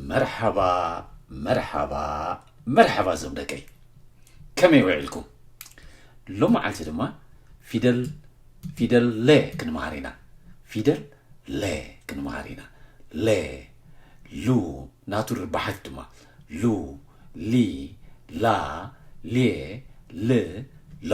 መርሓባ መርሓባ መርሓባ እዞም ደቀይ ከመይ ውዒልኩም ሎመዓልቲ ድማ ፊደል ፊደል ለ ክንምሃር ኢና ፊደል ለ ክንምሃር ኢና ለ ሉ ናቱ ርባሓት ድማ ሉ ሊ ላ ሌ ል ሎ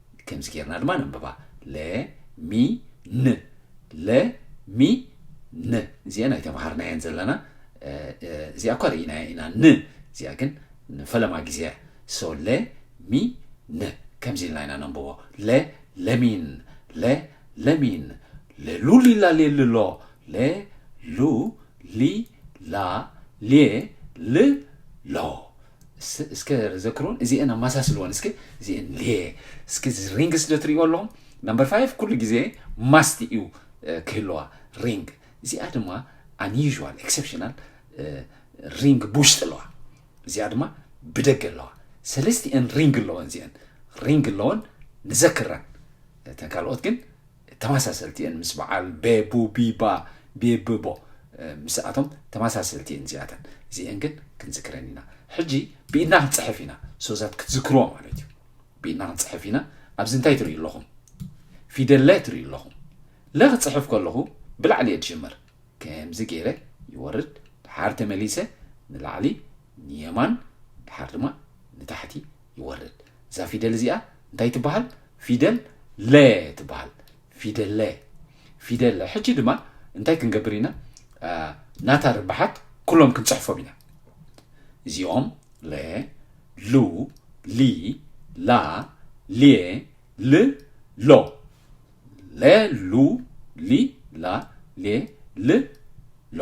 ከምዚ ጌርና ድማ ነንብባ ለ ሚ ን ለ ሚ ን እዚአን ኣይተምሃርናየን ዘለና እዚኣ እኳ ርኢናያ ኢና ን እዚኣ ግን ንፈለማ ግዜ እያ ሶ ለ ሚ ን ከምዚ ኢልና ኢና ነንብቦ ለ ለሚን ለ ለሚን ለሉ ሊላ ሌልሎ ለ ሉ ሊ ላ ሌ ል ሎ እስከ ዘክሩን እዚኤን ኣማሳስልወን እስከ እዚኤን ሌ እስከ ሪንግስ ዶ ትሪእዎ ኣለኹም ናምበር ፋይቭ ኩሉ ግዜ ማስት እዩ ክህለዋ ሪንግ እዚኣ ድማ ኣንዩዥዋል ኤክሰፕሽናል ሪንግ ብውሽጢ ኣለዋ እዚኣ ድማ ብደገ ኣለዋ ሰለስቲኤን ሪንግ ኣለወን እዚኤን ሪንግ ኣለወን ንዘክረን እተን ካልኦት ግን ተመሳሰልቲ እየን ምስ በዓል ቤቡ ቢባ ቤብቦ ምስኣቶም ተመሳሰልቲ እየን እዚኣተን እዚኤን ግን ክንዝክረን ኢና ሕጂ ብኢድና ክንፅሕፍ ኢና ሶዛት ክትዝክርዎ ማለት እዩ ብኢድና ክንፅሕፍ ኢና ኣብዚ እንታይ ትርእዩ ኣለኹም ፊደለ ትርእዩ ኣለኹም ለ ክፅሕፍ ከለኹ ብላዕሊ እየ ዝጅምር ከምዚ ገይረ ይወርድ ድሓር ተመሊሰ ንላዕሊ ንየማን ድሓር ድማ ንታሕቲ ይወርድ እዛ ፊደል እዚኣ እንታይ ትበሃል ፊደል ለ ትበሃል ፊደል ለ ፊደል ሕጂ ድማ እንታይ ክንገብር ኢና ናታ ርብሓት ኩሎም ክንፅሕፎም ኢና እዚኦም ለ ሉ ሊ ላ ሌ ል ሎ ለ ሉ ሊ ላ ሌ ል ሎ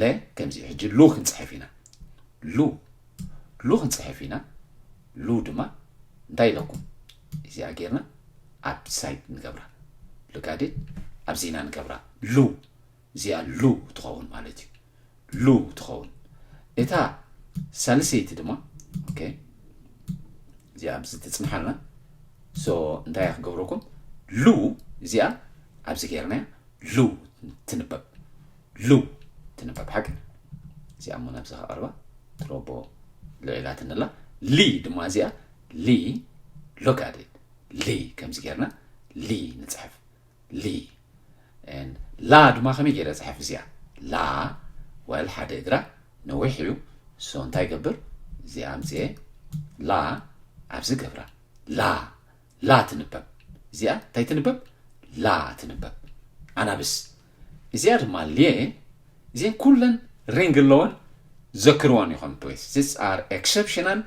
ለ ከምዚ እዩ ሕጂ ሉ ክንፅሕፍ ኢና ሉ ሉ ክንፅሕፍ ኢና ሉ ድማ እንታይ ኢለኩም እዚኣ ጌርና ኣብ ሳይድ ንገብራ ልጋዴ ኣብ ዜና ንገብራ ሉ እዚኣ ሉ ትኸውን ማለት እዩ ሉ ትኸውን እታ ሳልሰይቲ ድማ ኦኬ እዚኣ ኣብዚ ትፅንሓልና ሶ እንታይ ክገብረኩም ሉ እዚኣ ኣብዚ ጌርናያ ሉ ትንበብ ሉ ትንበብ ሓቂ እዚኣ እሞ ናብዚ ከቐርባ ትሮቦ ልዒላትን ኣላ ሊ ድማ እዚኣ ሊ ሎጋዴ ሊ ከምዚ ጌርና ሊ ንፅሕፍ ሊ ላ ድማ ከመይ ገይረ ፅሕፍ እዚኣ ላ ወል ሓደ እግራ ነዊሕ እዩ ሶ እንታይ ገብር እዚኣ ኣምፅኤ ላ ኣብዚ ገብራ ላ ላ ትንበብ እዚኣ እንታይ ትንበብ ላ ትንበብ ኣናብስ እዚኣ ድማ ልየ እዚን ኩለን ሪንግ ኣለወን ዘክርወን ይኾን ፕሊስ ዚስ ኣር ኤክሰፕሽናል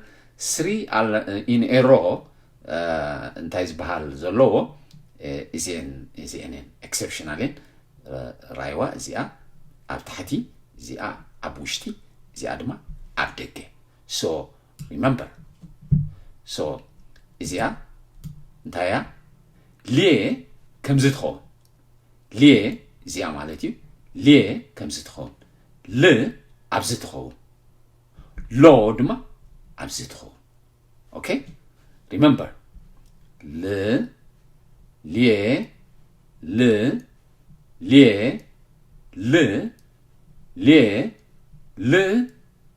ስሪ ኢን ኤሮ እንታይ ዝበሃል ዘለዎ እዚን እዚኤን እየን ኤክሰፕሽናል እየን ራይዋ እዚኣ ኣብ ታሕቲ እዚኣ ኣብ ውሽጢ እዚኣ ድማ ኣብ ደገ ሶ remember so እዚኣ እንታይ እያ ሊየ ከምዚ ትኸውን ሊየ እዚኣ ማለት እዩ ሊየ ከምዚ ትኸውን ል ኣብዚ ትኸውን ሎ ድማ ኣብዚ ትኸውን ኦኬ ሪመምበር ል ሊየ ል ሊየ ል ሊየ ል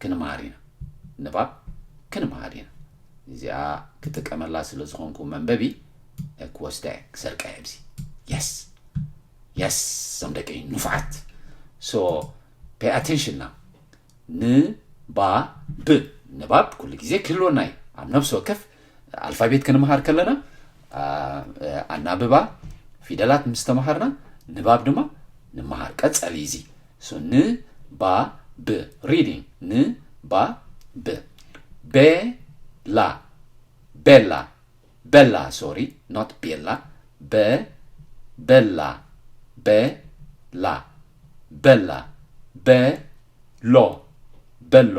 ክንምሃር ኢና ንባብ ክንምሃር ኢና እዚኣ ክጥቀመላ ስለ ዝኾንኩ መንበቢ ክወስዳ እየ ክሰርቃ እየ ኣብዚ የስ የስ ዞም ደቂ ንፉዓት ሶ ፔይ ኣቴንሽን ና ንባብ ንባብ ኩሉ ግዜ ክህልወና እዩ ኣብ ነብሲ ወከፍ ኣልፋቤት ክንምሃር ከለና ኣናብባ ፊደላት ምስ ተምሃርና ንባብ ድማ ንምሃር ቀጸሊ እዚ ን ባ ብ ሪዲንግ ን ባ ብ ቤላ ቤላ ቤላ ሶሪ ኖት ቤላ በ ቤላ ቤላ ቤላ በሎ በሎ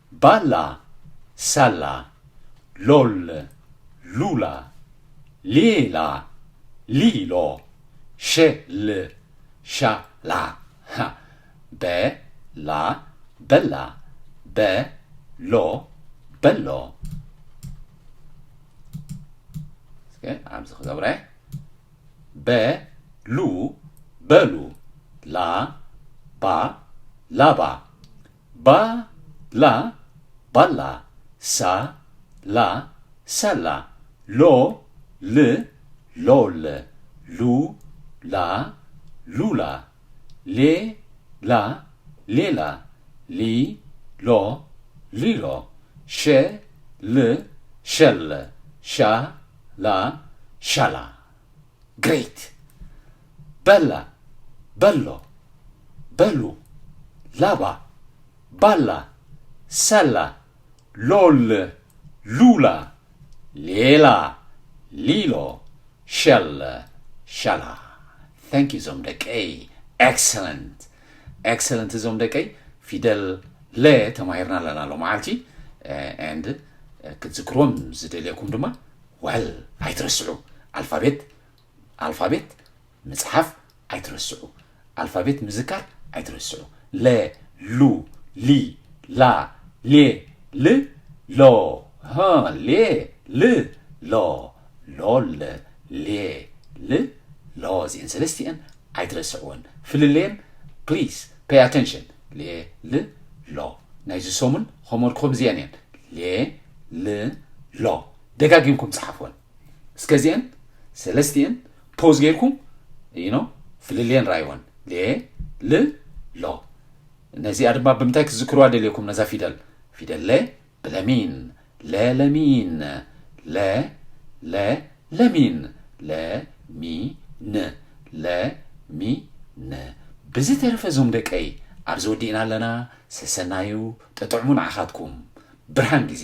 ባላ ሳላ ሎል ሉላ ሌላ ሊሎ ሸል ሻላ ሃ በ ላ በላ በ ሎ በሎ እስከ ኣብዚ ክገብረ በ ሉ በሉ ላ ባ ላባ ባ ላ ባላ ሳ ላ ሳላ ሎ ል ሎል ሉ ላ ሉላ ሌ ላ ሌላ ሊ ሎ ሊሎ ሸ ል ሸል ሻ ላ ሻላ። Great! በላ፣ በሎ፣ በሉ፣ ላባ፣ ባላ፣ ሰላ፣ ሎል፣ ሉላ፣ ሌላ፣ ሊሎ፣ ሸል፣ ሸላ። Thank you ዞም ደቀይ Excellent! Excellent ዞም ደቀይ ፊደል ለ ተማሂርና ኣለና ሎመዓልቲ and ክትዝክርዎም ዝደልየኩም ድማ ዋል ኣይትረስዑ ኣልፋቤት ኣልፋቤት ምጽሓፍ ኣይትረስዑ ኣልፋቤት ምዝካር ኣይትረስዑ ለ ሉ ሊ ላ ሌ ል ሎ ሀ ሌ ል ሎ ሎል ሌ ል ሎ እዚኤን ሰለስቲኤን ኣይትረስዕወን ፍልለየን ፕሊስ ፔይ ኣቴንሽን ሌ ል ሎ ናይዚ ሰሙን ሆምወርክኹም እዚኤን እየን ሌ ል ሎ ደጋጊምኩም ጸሓፍወን እስከ እዚኤን ሰለስቲኤን ፖዝ ጌርኩም you know ፍልልየን ራይወን ሌ ል ሎ ነዚኣ ድማ ብምንታይ ክትዝክርዋ ደልየኩም ነዛ ፊደል ፊደል ለ ብለሚን ለ ለሚን ለ ለ ለሚን ለ ሚ ን ለ ሚ ን ብዝተረፈ ዞም ደቀይ ኣብዚ ወዲእና ኣለና ሰሰናዩ ጥጥዕሙ ንዓኻትኩም ብርሃን ግዜ።